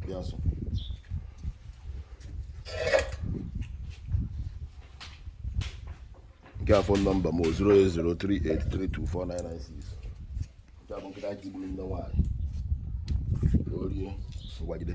Biasu. nke a fon nọmba m 08038324996 nke a bụ nkịta ji gburu nne nwaanyị orie ngwagide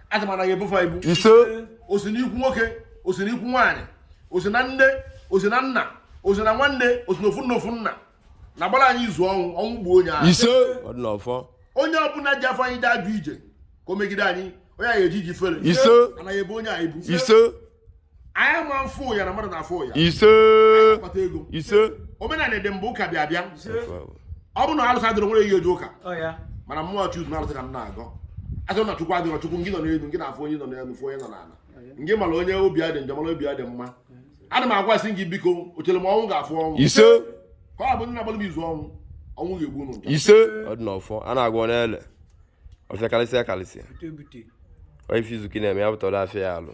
aja ma anaghị ebufe ibu ise o si n'ikwu nwoke o si n'ikwu nwaanyị o si na nne o si na nna o si na nwanne o si na ofu nne ofu nna na-agbara anyị izu ọnwụ ọnwụ gbuo onye ahụ ise ọ dị n'ọfọ onye ọbụla ji afọ anyị dị ajụ ije ka o megide anyị onye anyị eji ji fere ise anaghị ebe onye anyị bụ ise anyị ama afụ ụya na mmadụ na-afụ ụya ise kpata ego ise omenala dị mbụ ụka bịa bịa ọ bụrụ na alụsị adịrọ nwere ihe e ji ụka mana mmụọ chukwu na alụsị ka m na-agọ a sị na chukwu adịrọ chukwu ngị nọ n'elu ngị na-afụ onye nọ n'elu fụ onye nọ n'ala ngị mara onye obi ya dị njọ mara obi ya dị mma ana m agwasị gị biko o chere m ọnwụ ga-afụ ọnwụ ise ka ọ bụ ndị na-agbalị m izu ọnwụ ọnwụ ga-egbu unu ise ọ dị n'ọfọ a na-agọ ọ na-ele ọfịa karịsịa karịsịa ọ ife izuki na-eme ya pụtara afịa ya alụ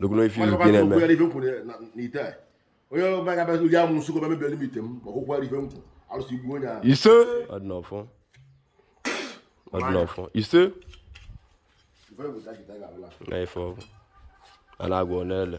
lekwanụ ife izuki na-eme onye ọbụla ga-abịazi iri amusu ka o mebiere m ite m ma ọkwụkwọ ife nkwụ arụsị gbuo onye ahụ ise ọ dị n'ọfọ ọ dị n'ọfọ ise na ife ọgwụ a na-agọ ọ na-ele